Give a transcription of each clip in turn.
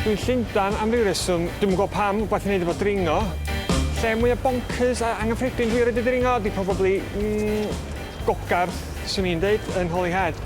Dwi'n Llundan am ryw reswm, dwi'm yn gwybod pam, gwaith i wneud efo dringo. Lle mwya bonkers a angyffredin dwi erioed 'di dringo ydi probably, mm, Gogarth, swn i'n deud, yn Holyhead.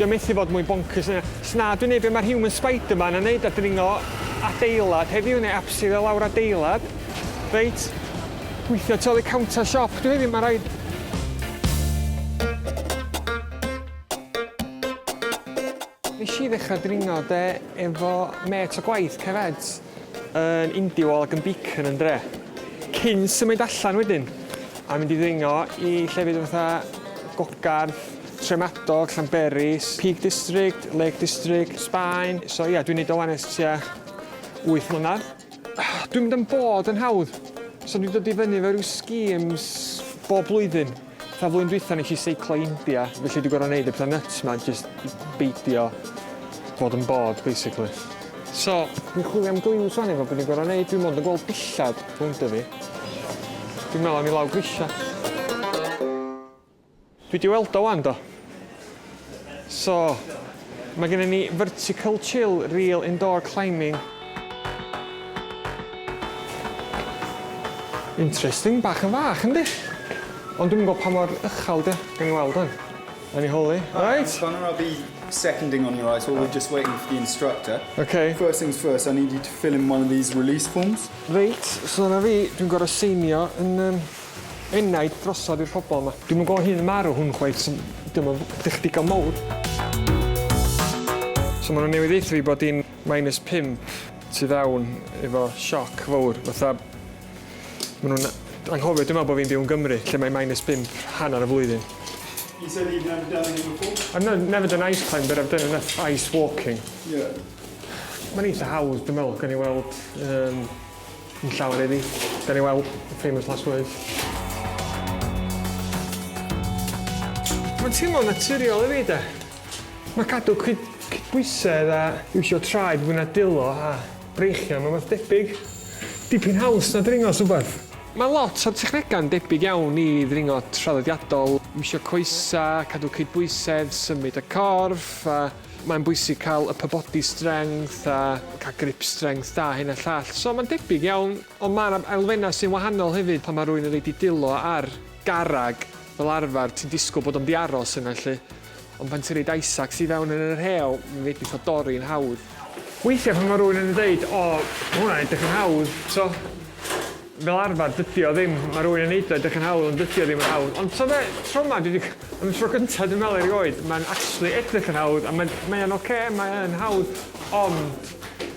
Dio methu fod mwy bonkers na 'na. Os na, dwi'n neud be ma'r human spiderman yn neud a dringo adeilad heddiw, neu abseilio i lawr adeilad. Reit, gweithio tu ôl i counter siop dwi heddiw ma' raid. Nes i ddechrau dringo de efo mêt o gwaith, Cefed, yn Indiwall ac yn Beacon yn dre. Cyn symud allan wedyn a mynd i ddringo i llefydd fatha Gogarth, Tremadog, Llanberis, Peak District, Lake District, Sbaen. So ia, dwi'n neud o wan ers tua wyth mlynedd. Dwi'n mynd am bod yn hawdd, so dwi'n dod i fyny efo ryw schemes bob blwyddyn. Fatha flwyddyn dwytha nes i seiclo India felly dwi gor'o' neud y petha nyts ma jyst i beidio bod yn bored basically. So dwi'n chwilio am gliws wan efo be dwi'n gor'o' neud dwi mond yn gweld dillad rowndo fi. Dwi'n me'wl am i lawr grisia. Dwi di weld o wan do. So, mae gennym ni Vertical Chill Reel Indoor Climbing. Interesting, bach yn fach yndi? Ond dwi'm yn gwybod pa mor uchel ydi o. Gawn ni weld wan. Awn ni holi. Reit. Connor, I'll be seconding on your ice wall, we're just waiting for the instructor. Ok. First things first, I need you to fill in one of these release forms. Reit, so dyna fi, dwi'n gorfod seinio yn yym Enaid drosodd i'r pobol ma. Dwi'm yn gwbo hyn yn marw hwn chwaith so diom yn ddech digon mowr. So ma' nw newydd ddeutho fi bod i'n minus pump tu fewn efo sioc fowr fatha ma' nw'n anghofio dwi me'wl bo fi'n byw yn Gymru lle mae minus bump hanner y flwyddyn. He said he'd never done this before. I've no- never done ice climb but I've done enough ice walking. Yeah. Ma'n eitha hawdd dwi me'wl gawn ni weld yym. Yn llawer iddi. Gawn ni weld y famous last words. Mae'n teimlo'n naturiol i fi de. Mae cadw cyd cydbwysedd a iwsio traed fwy na dulo a breichiau yn rhywbeth debyg. Dipyn haws na dringo rhywbeth. Mae lot o'r technegau'n debyg iawn i ddringo traddodiadol, iwsio coesau, cadw cydbwysedd, symud y corff a... Mae'n bwysig cael upper body strength a cael grip strength da, hyn a llall. So mae'n debyg iawn, ond mae'r elfennau sy'n wahanol hefyd pan mae rhywun yn rhaid i dilo ar garreg fel arfer, ti'n disgwyl bod o'n di aros yna lly. Ond pan ti'n rhaid Isaacs i fewn yn yr heol, mae'n fedrith o dorri'n hawdd. Weithiau pan mae rhywun yn dweud, o, mae hwnna'n edrych yn hawdd, so, Fel arfer, dydi o ddim. Mae rhywun yn neud o edrych yn hawdd, ond dydi o ddim yn hawdd. Ond ta fe, tro ma, dwi wedi... Am y tro gyntaf dwi'n meddwl erioed, mae'n actually edrych yn hawdd, a mae'n, mae o'n ocê, mae o'n hawdd, ond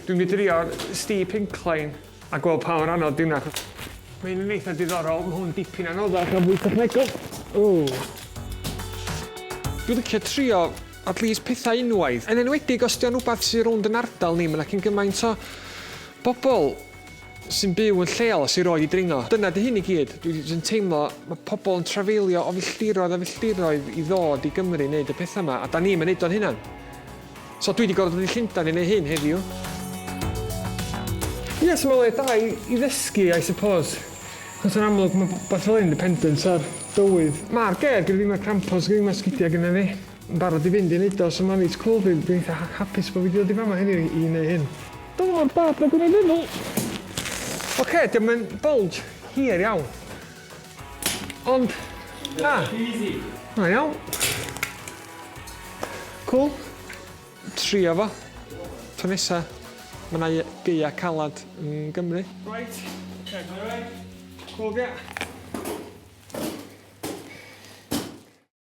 dwi'n mynd i drio'r steep incline a gweld pa mor anodd di hwnna, achos mae hyn yn eitha diddorol, mae hwn dipyn anoddach a fwy technegol. Ww. Dwi'n licio trio at least pethau unwaith, yn enwedig os 'di o'n rwbath sy rownd 'yn ardal ni, ma' 'na cyn gymaint o bobl sy'n byw yn lleol a sy erioed wedi dringo. Dyna 'di hyn i gyd. Dwi jyst yn teimlo, ma' pobl yn trafeilio o filltiroedd a filltiroedd i ddod i Gymru i wneud y pethau 'ma, a 'dan ni'm yn neud o'n hunan. So dwi 'di gorfod dod i Llundain i wneud hyn heddiw. Ie, so mae'n le da i i ddysgu, I suppose. Achos yn amlwg, mae rhywbeth fel hyn yn dependent ar dywydd. Ma'r geg gyda fi, ma'r crampons gyda fi, ma'r sgidia' gyda fi. Yn barod i fynd i neud o, so ma reit cwl fi, dwi'n eitha hapus bo fi di dod i fama heddiw i neu hyn. Dyma mor bad nag o'n i'n meddwl! Oce, dio'm yn bulge hir iawn. Ond, na. Na iawn. Cwl. Trio fo. Tro nesa, ma na gaea calad yn Gymru. Reit, oce, ma reit. Cwl, ia.